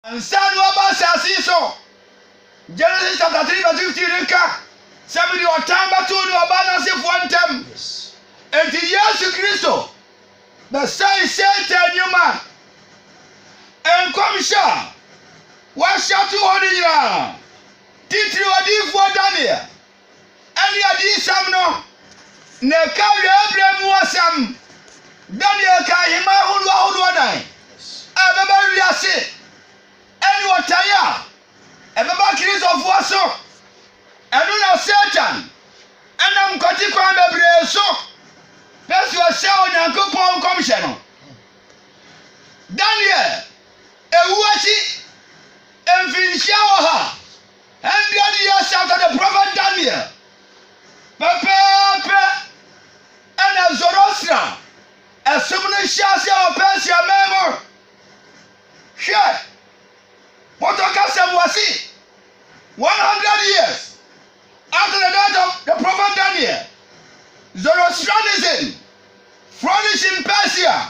Ansa na waba asase yi so. Genesis chapter three verse fifteen no ka sɛ mede ɔtan bɛto ne ɔbaa no asefoɔ ntam. Enti Yesu Kristo bɛsɛe Satan nnwuma. Nkɔmhyɛ a wɔahyɛ ato hɔ no nyinaa, titiriw odiyifoɔ Daniel, ne adiyisɛm no, na ɛka awiei bere mu asɛm. Daniel ka ahemman horow ahorow anan a ɛbɛba wiase ne ɔtaa a ɛbɛba Kristofo so. Ɛno na Satan nam nkwati kwan bebree so pɛ sɛ ɔsɛe Onyankopɔn nkɔmhyɛ no. Daniel wu akyi mfinhyia ɔha. Hundred years after the prophet Daniel, pɛpɛɛpɛ ɛna Zoroastrian ɛsom no hyɛ aseɛ wɔ Persia man mu. Hwɛ, Poto kasa mu ɔse, 100 years after the death of the prophet Daniel, Zoroastrianism flourished in Persia.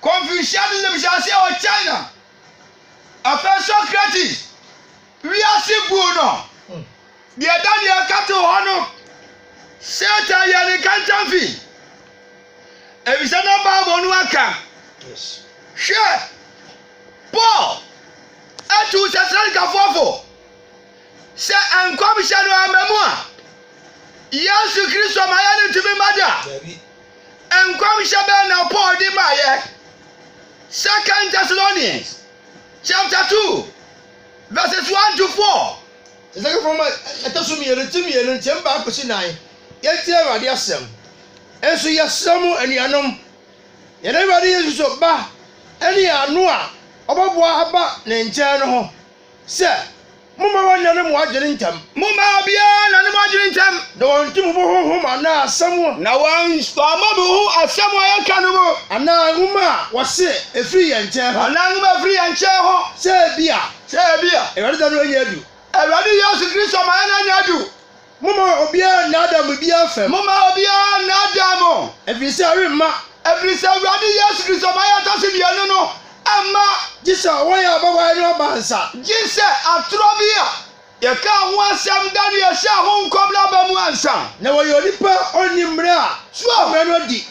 Confucianism hyɛaseɛ wɔ China, afei Socrates wiase buu no, deɛ Daniel ka too hɔ no, Satan yɛɛ ne kantanfi, efisɛ na Bible no aka. Hwɛ, Paul atuu Thessalonikafoɔ fo sɛ nkɔmhyɛ no amma mu a, Yesu Kristo ma yɛrentumi mma da. Nkɔmhyɛ bɛn na Paul de maeɛ? Second Thessalonians chapter two verses one to four. Tesalonifoɔ nwoma ɛtɔ so mmienu ti mmienu nkyɛn baako kɔsi nnan Yɛntie Awurade asɛm Nso yɛsrɛ mo anuanom, yɛn Awurade Yesu Kristo ba ne yɛn ano a ɔbɛboa aba ne nkyɛn no ho, Sɛ, Momma wɔnnyɛ ne mo adwene ntɛm. Momma obiara nna ne mo adwene ntɛm. Na wɔnto mo bo honhom anaa asɛm. Na wɔamma mo ho asɛm a yɛka no mu. Anaa nwoma a wɔse efiri yɛn nkyɛn hɔ. Anaa nwoma a efiri yɛn nkyɛn hɔ. Sɛ ebia. Sɛ ebia. Awurade da no annya adu. Awurade Yesu Kristo ma yɛn annya adu. Momma obiara nnaadaa mo bi amfam. Momma obiara nnaadaa mo. Ɛfiri sɛ ɛremma. Ɛfiri sɛ Awurade Yesu Kristo ma yɛtɔ so mmienu no mma. Gye sɛ wɔn a wɔbɛwae no aba nsa. Gye sɛ atorɔ bi a yɛkaa ho asɛm da no yɛhyɛɛ ho nkɔm no aba mu ansa. Na wɔyɛ onipa a ɔnni mmara a mmara no adi.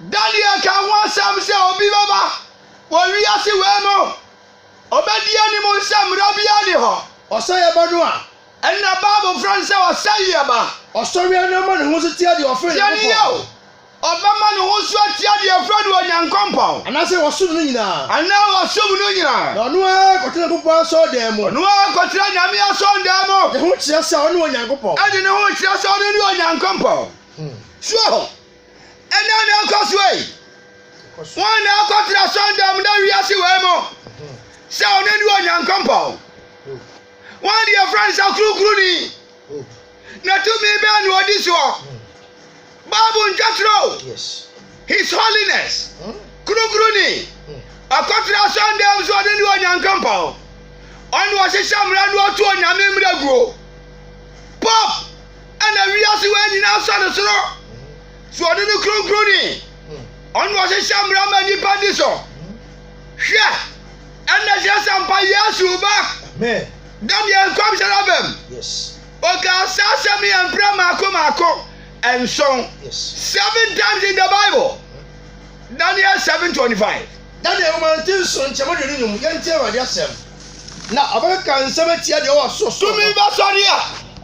Da no yɛkaa ho asɛm sɛ obi bɛba wɔ wiase wei mu, ɔbɛdi anim sɛ mmara biara nni hɔ. Ɔsɛeɛ ba no a. Ɛnna Bible frɛ no sɛ ɔsɛeɛ ba. Ɔsɔreɛ no ma ne ho so te adeɛ a ɔfrɛ Nyankopɔn. Tiɛ no yie o, ɔbɛma ne ho so ate adeɛ a ɔfrɛ no Onyankopɔn. Anaasɛ wɔsom no nyinaa. Anaa wɔsom no nyinaa. Na ɔno ara kɔtena Nyankopɔn asɔredan mu. Ɔno ara kɔtena Nyame asɔredan mu. De ho kyerɛ sɛ ɔne Onyankopɔn. De ne ho kyerɛ sɛ ɔno ne Onyankopɔn. Soɔ hɔ. Ɛnna na ɛkɔ so ei. Wɔn na akɔtena asɔredan mu na wiase wei mu. Sɛ ɔno ne Onyankopɔn. Wɔn de yɛfrɛ no sɛ Kronkronni. Na tumi bɛn na ɔdi soɔ? Bible ntwatwerɛ o. His Holiness, Kronkronni. Ɔkɔtena asɔndam so ɔno ne Onyankopɔn. Ɔna ɔhyehyɛ mmara na ɔto Onyame mmara guo. Pope ɛna wiase wei nyinaa sɔ no soro. So ɔno ne Kronkronni? Ɔna ɔhyehyɛ mmara ma nnipa di so. Hwɛ! Ɛnna Cesar mpa Yesu ba. Da deɛ nkɔmhyɛ no abam. Ɔkaa saa asɛm yi mprɛ mmaako mmaako nson. Seven times in the Bible. Daniel seven twenty five. Daniel nwoma no ti nson nkyɛm aduonu nnum yɛntie Awurade asɛm. Na ɔbɛkeka nsɛm atia deɛ ɔwɔ soro soro no. Tumi bɛsɔre a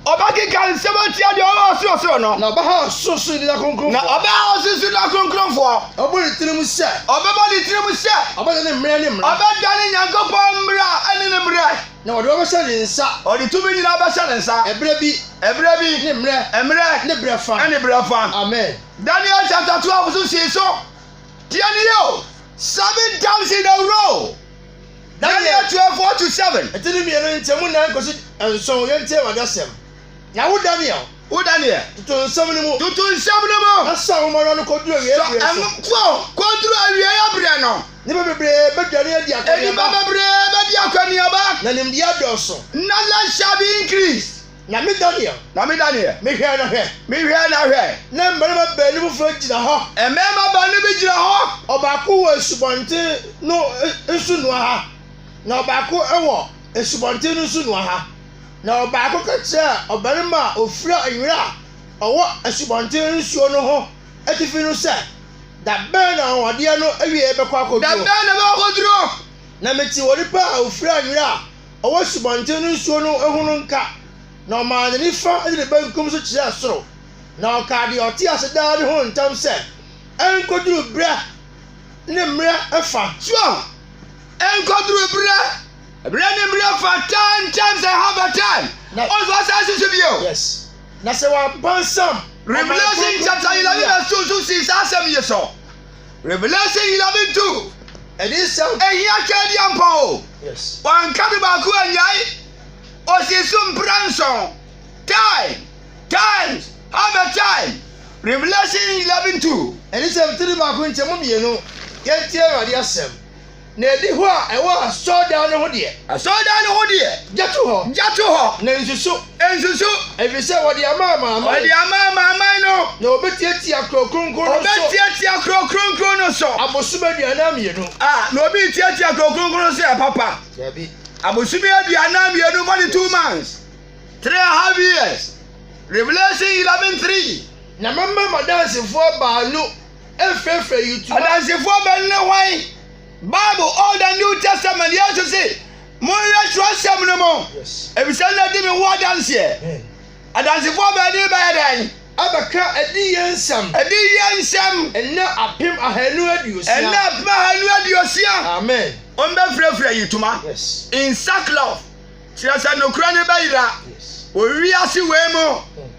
Ɔbɛkeka nsɛm atia deɛ ɔwɔ ɔsorosoro no. Na ɔbɛha ɔsorosoro nna kronkronfoɔ. Na ɔbɛha ɔsorosoro nna kronkronfoɔ. Ɔbɛbɔ ne tirim sɛ. Ɔbɛbɔ ne tirim sɛ. Ɔbɛdane ne mmerɛ ne mmara. Ɔbɛdane Nyankopɔn mmara ne ne mmerɛ. Na wɔde wɔn bɛhyɛ ne nsa. Ɔde tumi nyinaa bɛhyɛ ne nsa. Ɛberɛ bi. Ɛberɛ bi. Ne mmerɛ. Mmerɛ. Ne berɛ fa. Ne berɛ fa. Amen. Daniel chapter twelve so sii so. Tie nie o, seven times in a row. Daniel twelve four to seven. Ɛte ne mmienu nkyɛmu nan kɔsi nson, yɛntie Awurade asɛm. Na wo Daniel. Wo Daniel. Toto nsɛm no mu. Toto nsɛm no mu. Na sɔ nhomawa no kɔduru awieeɛ berɛ so. Sɔ nhomawa no kɔduru awieeɛ berɛ no. Nnipa bebree bɛdwane adi akɔneaba. Nnipa bebree bɛdi akɔneaba. Na nimdeɛ adɔɔso. Knowledge shall be increased. Na me Daniel. Na me Daniel, mehwɛɛ na hwɛ. Mehwɛɛ na hwɛ, na mmarima baanu foforɔ gyina hɔ. Mmarima baanu bi gyina hɔ. Ɔbaako wɔ asubɔnten no nsunoa ha, na ɔbaako wɔ asubɔnten no nsunoa ha. Na ɔbaako ka kyerɛɛ ɔbarima a ɔfira nwera a ɔwɔ asubɔnten nsuo no ho atifi no sɛ, Da bɛn na anwanwadeɛ no awieeɛ bɛkɔ akɔduro? Da bɛn na ɛbɛkɔ akɔduro? Na metee onipa a ɔfira nwera a ɔwɔ asubɔnten no nsuo no ho no nka, na ɔmaa ne nifa de ne benkum so kyerɛɛ soro, na ɔkaa deɛ ɔte ase daa no ho ntam sɛ, Ɛnkɔduru berɛ ne mmerɛ fa. Twerɛ, Ɛnkɔduru berɛ, berɛ ne mmerɛ fa, time, times and half a time, ɔnso asaase so bio. Yes. Na sɛ wɔapansam. Revelation chapter eleven verse two nso sii saa asɛm yi so. Revelation eleven two. Ɛde nsɛm. Ehia twɛ adi ampɔn o. Yes. Wanka bi baako anyae. Osi so mpira nson. Time, times, half a time. Revelation eleven two. Ɛde nsɛm tiri baako nkyɛmu mmienu. Yɛntie Awurade asɛm. Na adihɔ a ɛwɔ asɔredan no ho deɛ. Asɔredan no ho deɛ. Gya to hɔ. Gya to hɔ. Na nsusu. Nsusu. Ɛfiri sɛ wɔde ama amanaman. Wɔde ama amanaman no. Na wɔbɛtiatia kuro kronkron no so. Wɔbɛtiatia kuro kronkron no so. Abosome aduanan mmienu. A, na obi retiatia kuro kronkron no so yɛ papa. Dabi. Abosome aduanan mmienu, forty two months. Three and a half years. Revelation eleven three. Na mɛma m'adansefoɔ baanu. Adansefoɔ bɛn ne hwan? Bible, Old and New Testament, Yesu se, monwerɛ twerɛsɛm no mu, ɛfiri sɛ na di me ho adanseɛ. Adansefoɔ bɛn ne bɛyɛ dɛn? Abɛka adiyie nsɛm. Adiyie nsɛm. Ɛnnɛ apem ahanu aduosia. Ɛnnɛ apem ahanu aduosia. Amen. Wɔn bɛfirafira yitoma. Yes. In sackcloth. Kyerɛ sɛ nokorɛ no bɛyera. Yes. Wɔ wiase wei mu. Hmm.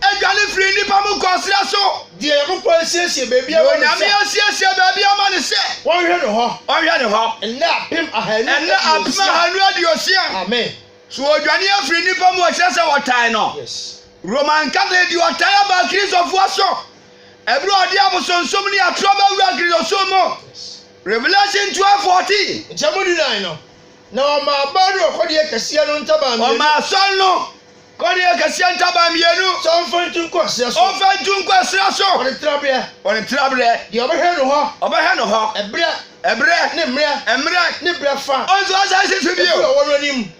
Adwane firi nnipa mu kɔ serɛ so. Deɛ Onyankopɔn asiesie baabi ama no sɛ. Deɛ Onyame asiesie baabi ama no sɛ. Wɔnhwɛ no hɔ. Wɔnhwɛ no hɔ. Nna apem ahanu aduosia. Nna apem ahanu aduosia. Amen. So ɔdwane afiri nnipa mu a ɛkyerɛ sɛ wɔtan no? Yes. Roman Catholic de ɔtan aba Akristofoɔ so ɛberɛ a ɔde abosonsom ne atorɔ bɛwura Akristosom mu. Yes. Revelation twelve fourteen. Nkyɛmu dunan no, na wɔmaa baa no ɔkɔdeɛ kɛseɛ no ntaban mmienu. Wɔmaa asɔre no Kɔ ne akɛseɛ ntaban mmienu. Sɛ ɔmfa ntu nkɔ ɛserɛ so. Ɔmfa ntu nkɔ ɛserɛ so. Wɔ ne tenaberɛ. Wɔ ne tenaberɛ. Deɛ ɔbɛhwɛ no hɔ. Ɔbɛhwɛ no hɔ. Ɛberɛ. Ɛberɛ. Ne mmerɛ. Mmerɛ. Ne berɛ fa. Ɔnso asan si so bio. Afiri ɔwɔ no anim.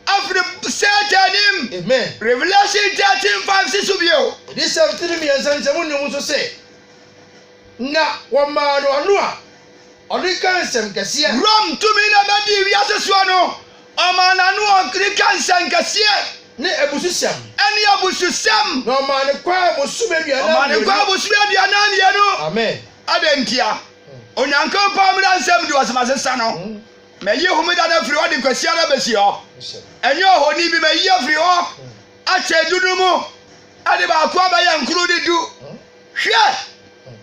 Afiri Satan anim. Amen. Revelation thirteen five si so bio. Adiyisɛm tiri mmiɛnsa no sɛ monnim nso se, na wɔmaa no ano a ɔde ka nsɛm kɛseɛ. Rome tumi na ɛbɛdii wiase soɔ no. Ɔmaa n'ano ɔdwene ka nsɛnkɛseɛ ne abususɛm. Ɛne abususɛm. Na ɔmaa no kwan bosome aduanan mmienu. Ɔmaa no kwan bosome aduanan mmienu. Amen. Adɛn ntia? Onyankopɔn mmara nsɛm du ɔsoma sesa no. Mɛyi homeda no afiri hɔ de Kwasiada bɛsi hɔ. Ɛnyɛ ohoni bi. Mɛyi afiri hɔ akyɛ du no mu de baako abɛyɛ nkron ne du. Hwɛ!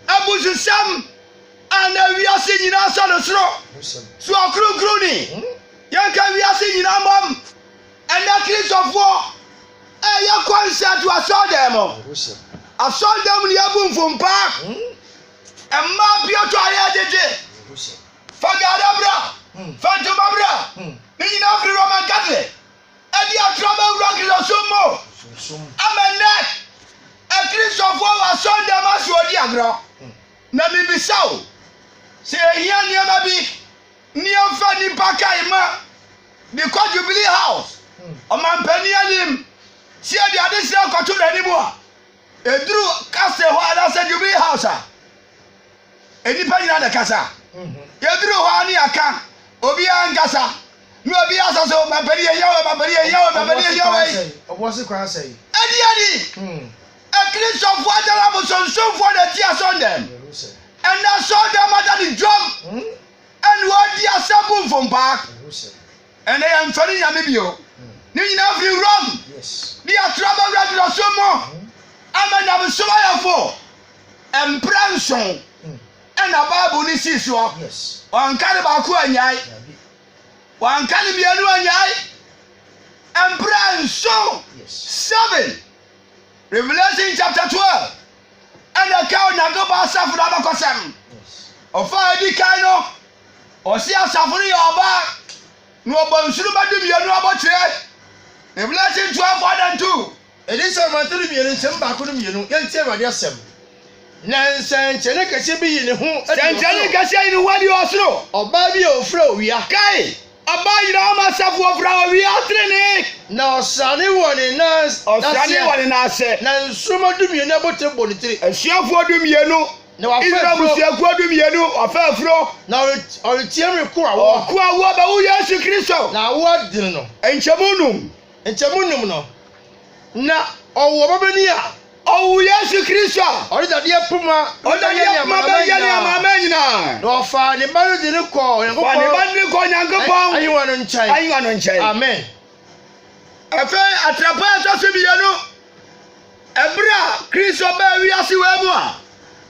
Abususɛm a na wiase nyinaa sɔ no soro so ɔkronkronni. Yɛnka wiase nyinaa mmom ɛnnɛ Kristofoɔ ɛɛyɛ concert wɔ asɔɔdɛm mu. Asɔɔdɛm mu no yɛbu mfompaa. Mmaa piato a yɛɛgyegye. Fa gaada bra, fa ntoma bra. Ne nyinaa firi Roman Catholic ɛde atra bɛwura Kristosom mu. Ama ɛnnɛ akristofoɔ wɔ asɔɔdɛm ase ɔɔdi agorɔ. Na mebisa wo, sɛ yɛhia nneɛma bi. Neɛfa nnipa kae ma de kɔ Jubilee House ɔmanpanin anim sɛ de adesrɛ kɔto n'anim a ɛduru Castle hɔ anaasɛ Jubilee House a, nnipa nyina na ɛkasa. Yɛduru hɔ a ne yɛaka, obiara nkasa. Na obi asa so, ɔmanpanin yɛhia wei, ɔmanpanin yɛhia wei, ɔmanpanin yɛhia wei. Ɛdeɛn ni? Akristofoɔ atare abosonsomfoɔ na ɛte asɔrdan mu. Ɛnna asɔrdan mu ada ne dwam ɛna ɔredi asɛm bu mfompaa. Ɛnna yɛmfrɛ no nyame bio. Ne nyinaa firi wuram de atorɔ aba wura durasom mu ama nyamesom ayɛ fo. Mprɛ nson ɛna Bible no sii soɔ. Wɔanka no baako annyae. Wɔanka no mmienu annyae. Mprɛ nson, seven. Revelation chapter twelve ɛna ɛka Onyankopɔn asafo no abakɔsɛm. Ɔfa a edi kan no, ɔsi asafo no yɛ ɔbaa na ɔbɔ nsoromma dumienu abotire. Revelation twelve one and two. Yɛde nsɛmma toro mmienu, nsɛm baako no mmienu, yɛntie Awurade asɛm. Na nsɛnkyerɛnne kɛseɛ bi yii ne ho adii ɔsoro. Sɛnkyerɛnne kɛseɛ yii ne ho adii ɔsoro. Ɔbaa bi a ɔfira owia. Kae! Ɔbaa nyinaa mu asafoɔ fira owia tenenee. Na ɔsrane wɔ ne nan aseɛ. Ɔsrane wɔ ne nan ase. Na nsoromma dumienu abotire bɔ ne tiri. Asuafoɔ dumienu. Na wafa afuro. Israel mmusuakuo dumienu, wafa afuro. Na ɔreteam reko awoɔ. Ɔreko awoɔ bɛwo Yesu Kristo. Na awoɔ adene no. Nkyɛmu num. Nkyɛmu num no, na ɔwɔ ɔbabanin a. Ɔwoo Yesu Kristo a. Ɔde dadeɛ poma bɛyɛ ne amanaman nyinaa. Na ɔfaa ne ba no de no kɔɔ Onyankopɔn ahennwa no nkyɛn. Amen. Afei atrapoe a ɛtɔ so mmienu, ɛberɛ a Kristo baa wiase wei mu a,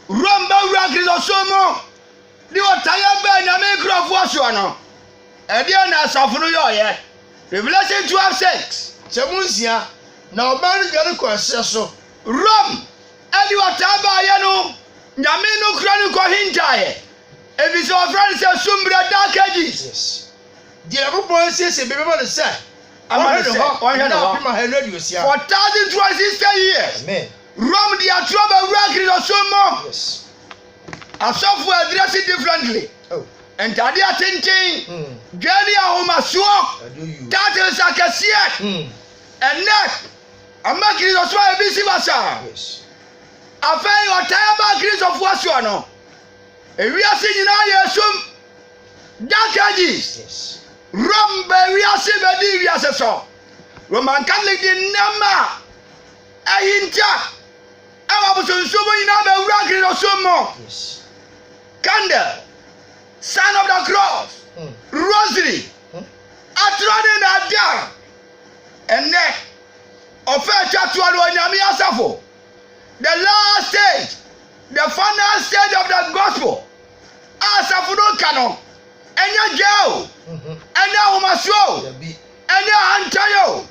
Rome bɛwuraa Kristosom mu de ɔtaeɛ baa Nyame nkurɔfoɔ soɔ no, ɛdeɛn na asafo no yɔeɛ? Revelation 12 6 Sɛ mo nsia, na ɔbaa no dwane kɔɔ ɛserɛ so. Rome de ɔtaa baeɛ no, Nyame no kora no kɔhintaaɛ, ɛfiri sɛ wɔfrɛ no sɛ Sumbrɛ, Dark Ages. Yes. Deɛ Nyankopɔn asiesie baabi ama no sɛ Ama ɔhwɛ no no sɛ hɔ ɔnhwɛ no nna hɔ. apem ahanu aduosia. For thousand two hundred sixty years, Amen. Rome de atorɔ bɛwuraa Kristosom mu. Yes. Asɔfo address differently. Oh. Ntade atenten, mm. dwa ne ahomasoɔ, titles akɛseɛ. Mm. Ɛnɛ, ama Kristosom ayɛ bi si basaa. Yes. Afei ɔtaa aba Kristofoɔ soɔ no. Ewiase nyinaa yɛ esum. Dark Ages. Yes. Rome bɛ wiase bɛdi wiase so. Roman Catholic di nneɛma a ɛhinta. Ɛwɔ abosonsom mu nyinaa ma awura Kristosom mu. Candle, Sign of the Cross, Rosary, atorɔ ne nnaadaa. Ɛnnɛ, ɔfɛ a ɛtwa toɔ no, Onyame Asafo, the last stage, the final stage of the gospel, a asafo no ka no, ɛnyɛ dwaa o, ɛnyɛ ahomasoɔ o, ɛnyɛ ahantan o.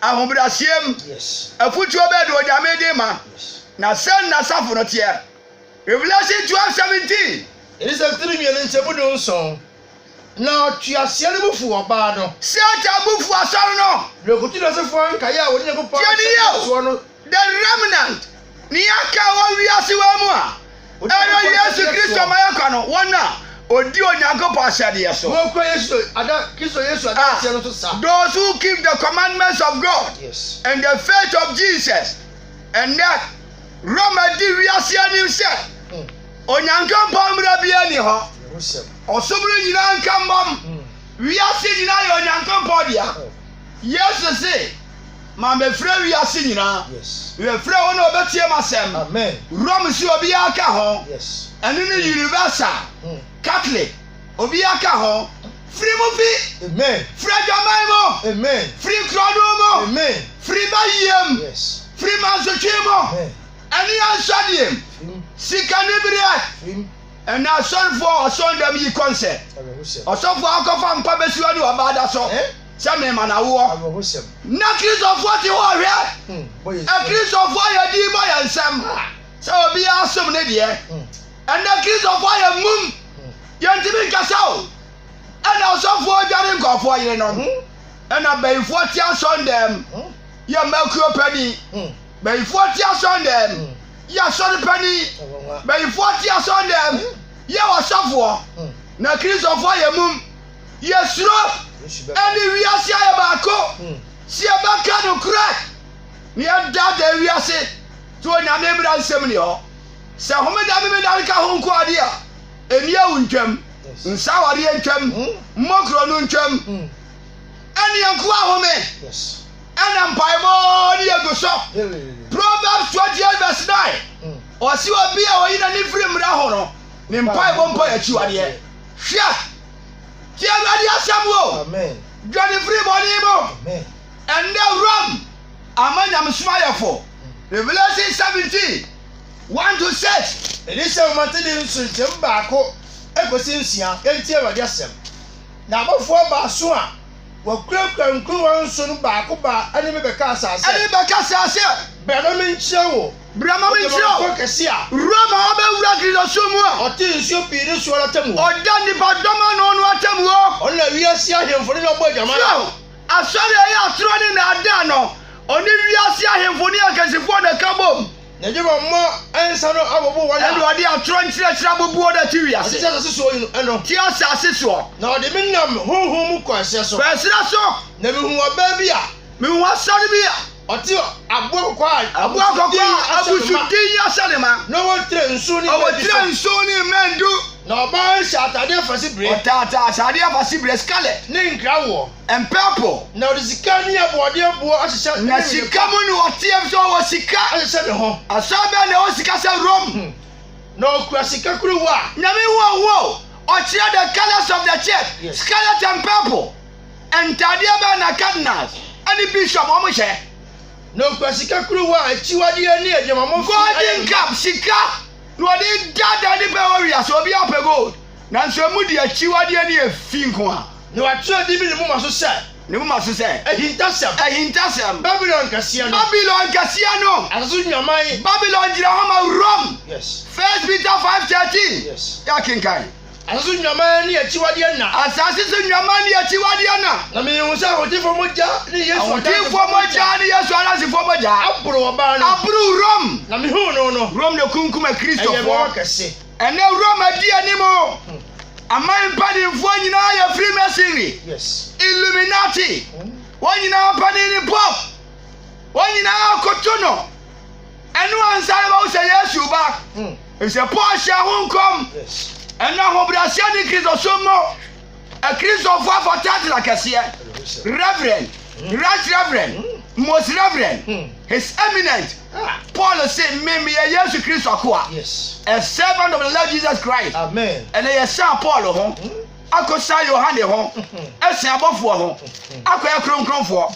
Ahobrɛaseɛ mu afutuo bɛn na Onyame de ma, na sɛn na asafo no teɛ? Revelation twelve seventeen. Ɛne sɛ tirinwi no nkyɛmu du nson. Na ɔtweaseɛ no bo fu ɔbaa no. Satan bo fu asɔre no. Na ɔkɔtu Nasefoɔ nkaeɛ a wɔne Nyankopɔn ahyɛ bɔ soɔ no The Remnant, Nea Aka Wɔ Wiase Wei Mu a Ɛreba Yesu Kristo Ma Yɛkɔ No, Wɔn a Wodi Onyankopɔn Ahyɛdeɛ So a Those Who Keep the Commandments of God and the Faith of Jesus Ɛnnɛ, Roma di wiase anim sɛ Onyankopɔn mmara biara nni hɔ. Ɔsom no nyinaa nka mmom. Wiase nyinaa yɛ Onyankopɔn dea. Yesu se. Ma mefrɛ wiase nyinaa. Mefrɛ wɔn a wɔbɛtie m'asɛm. Rome se obiara ka ho. Ɛno ne universal, hmm. Catholic, obiara ka ho. Firi mu fi. Firi adwaman mu. Firi nkurɔdom mu. Firi bayiem. Firi mansotwe mu. Ɛne ansɔdeɛ mu. Sika ne berɛ. Ɛna asɔrefoɔ asɔndam yi kɔnsɛ. Ɔsɔfoɔ akɔfa nkwa bɛsiwa ne ɔbaada so. Eh? sɛ mema no awoɔ. Na Kristofoɔ te hɔ hwɛ. Hmm, Akristofoɔ yɛ din bɔ yɛ nsɛm sɛ obiara som ne deɛ. Hmm. Ɛnɛ Kristofoɔ yɛ mum. Hmm. Yɛntumi nkasa o. Ɛna ɔsɔfoɔ dware nkɔfoɔ yere no. Ɛna bayifoɔ te asɔn dɛm. Yɛ mma kuo pani. Bayifoɔ te asɔn dɛm. Yɛ asɔre pani. Bayifoɔ te asɔn dɛm. Yɛ ɔsɔfoɔ. Na Kristofoɔ yɛ mum. Yɛsuro ne wiase ayɛ baako sɛ yɛbɛka nokorɛ na yɛdaadaa wiase to Onyame mmara nsɛm ni hɔ. Sɛ homeda memeda no ka ho nko adeɛ a, ɛni awu ntwam, nsa awadeɛ ntwam, mmɔ korɔno ntwam. Ɛne ɛnko ahome ɛna mpaebɔ ne yɛgu so. Proverbs 28 verse 9 ɔse obi a ɔyi n'ani firi mmara ho no ne mpaebɔ mpo yɛ akyiwadeɛ. Hwɛ! Tie Awurade asɛm o! Dwane firi bɔne mu! Ɛnnɛ Rome ama nyamesom ayɛ fo. Revelation 17, 1-6. Ɛne sɛ wɔte ne nso nkyɛmu baako kɔsi nsia. Yɛntie Awurade asɛm. Na abɔfoɔ baason a wɔkurakura nkuruwa nson no baako baa ɛne me bɛkaa saa sɛ. Ɛne me bɛkasaa sɛ. Bra na menkyerɛ wo. Bra ma menkyerɛ wo. Ɔde m'ankwa kɛse a. Wura ma ɔbɛwura Kristo som mu a. Ɔte nsuo pii ne soɔ no atemmuo. Ɔda nnipa dɔm ano no atemmuo. Ɔno na wiase ahemfo no de abɔ adwaman. Hwɛ o, asɔre a ɛyɛ atorɔ ne nnaadaa no, ɔne wiase ahemfo ne akansifoɔ na ɛka bom. Na ɛde wɔn mma nsa no abobo wɔn a. Ɛna ɔde atorɔ nkyerɛkyerɛ aboboɔ no ati wiase. Ɔte asase soɔ yi no ɛno. Te asase soɔ. Na ɔde me nam honhom mu kɔ ɛserɛ so. Kɔ ɛserɛ so. Na mehuu ɔbaa bi a. Mehuu asɔre bi a. Ɔte aboa kɔkɔɔ a abusudin ahyɛ ne ma. Na ɔwɔ tire nson ne mmɛn du. Ɔwɔ tire nson ne mmɛn du. Na ɔbaa yi hyɛ atade afasebire. Ɔtaataa atade afasebire, scarlet. Ne nkrawoɔ. And purple. Na ɔde sika ne aboɔdeɛ boɔ ahyehyɛ ne wene pa. Na sika mu na ɔteɛ efisɛ ɔwɔ sika. Ahyehyɛ ne ho. Asɔre bɛn na ɛwɔ sika sɛ Rome? Na ɔkura sika kuruwa. Nyame hu ɔho o! Ɔkyerɛ the colours of the church, scarlet and purple. Ntadeɛ bɛn na cardinals ne bishop wɔhyɛ? Na okura sika kuruwa a akyiwadeɛ ne agyinamamɔ fi ayɛ mu. Golden cup, sika na wɔde daadaa nnipa wɔ wiase, obiara pɛ gold, nanso emu de akyiwadeɛ ne efi nko ara. Na wɔatwerɛ din bi ne moma so sɛ. Ne moma so sɛ. Ahintasɛm. Ahintasɛm. Babilon kɛseɛ no. Babilon kɛseɛ no. Asase so nnwaman. Babilon gyina hɔ ma Rome. Yes. First Peter five thirteen. Yes. Yɛakenkan. Asase so nnwammaa ne akyiwadeɛ na. Asase so nnwammaa ne akyiwadeɛ na. Na mehunu sɛ ahotefoɔ mogya ne Yesu adansefoɔ mogya. Ahotefoɔ mogya ne Yesu adansefoɔ mogya. Aboro ɔbaa no. Aboro Rome. Na mehunu no no. Rome na ekunkum akristofoɔ. Ɛyɛ mɛwa kɛse. Ɛnɛ Rome adi anim. Hmm. Aman mpanimfoɔ nyinaa yɛ Freemasonry. Yes. Illuminati. Hmm. Wɔn nyinaa panin ne Pope. Wɔn nyinaa koto no. Ɛno ansa na wɔahu sɛ Yesu reba. Hmm. Efisɛ Paul hyɛ ho nkɔm. Ɛnna ahobrɛaseɛ ne Kristosom mu. Akristofo afa title akɛseɛ. Reverend, hmm. Right Reverend, hmm. Most Reverend, His Eminent. Ah. Paul se me meyɛ Yesu Kristo akoa. A servant of the Lord Jesus Christ. Amen. Ɛnna yɛsan Paul ho. Akɔsan Yohane ho. Ɛsan abɔfoɔ ho. Akɔyɛ kronkronfoɔ.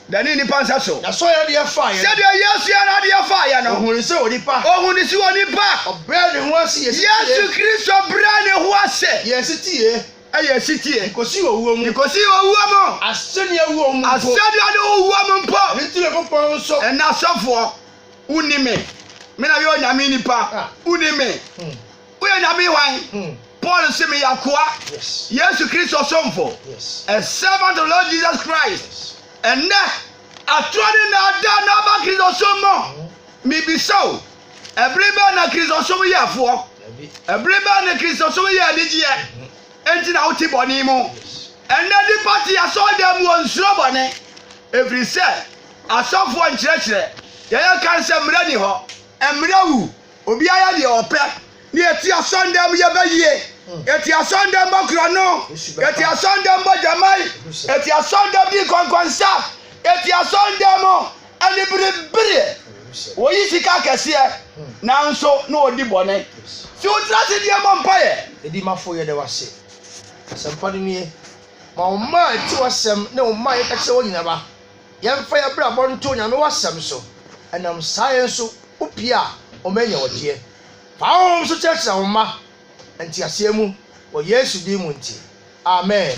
Da ne nnipa nsa so. Na sɔre adeɛ faeɛ no. Sɛdeɛ Yesu yɛ n'adeɛ faeɛ no. Ɔhuu ne sɛ onipa. Ɔhuu ne sɛ onipa. Ɔbrɛɛ ne ho ase yɛɛ setie. Yesu Kristo brɛɛ ne ho ase. Yɛɛ setie. Ɛyɛɛ setie. De kɔsii owuo mu. De kɔsii owuo mu. Asɛnnua wuo mu mpo. Asɛnnua ne ho wuo mu mpo. Ɛno nti Onyankopɔn nso. Ɛnna asɔfoɔ, wonni me. Me na meyɛ Onyame nipa, wonni me. Woyɛ Nyame hwan? Paul se meyɛ akoa Yesu Kristo somfo, a servant of Lord Jesus Christ. Ɛnnɛ, atorɔ ne naadaa na aba Kristosom mu. Mebisa o, ɛbere bɛn na Kristosom yɛ ɛfoɔ? Ɛbere bɛn na Kristosom yɛ anigyeɛ? Enti na wote bɔne mu. Ɛnnɛ nnipa te asɔredan mu wɔnsuro bɔne, ɛfiri sɛ asɔfoɔ nkyerɛkyerɛ deɛ yɛka no sɛ mmerɛ nni hɔ, mmerɛ wu. Obiara yɛ deɛ ɔpɛ. Ne yɛti asɔndɛm mu yɛbɛ yie. Yɛti asɔndɛm bɔ korɔno. Yɛti asɔndɛm bɔ gyamai. Yɛti asɔndɛm di nkɔnkɔnsa. Yɛti asɔndɛm mu anibiribereɛ. Wɔyi sika akɛseɛ nanso na wɔdi bɔne. Se wotra ase die bɔ mpaeɛ. Edimafo yɛda wo ase. Asɛmpa no nie. Ma wo mma a ɛte w'asɛm ne wo mma a yɛka kyerɛ wɔn nyina ba. Yɛmfa yɛn abrabɔ nto Onyame w'asɛm so, ɛnam saa yɛn nso wo pie a ɔma nya wɔdeɛ. Fa honhom so kyerɛkyerɛ wo mma nteaseɛ mu wɔ Yesu din mu nti, amen.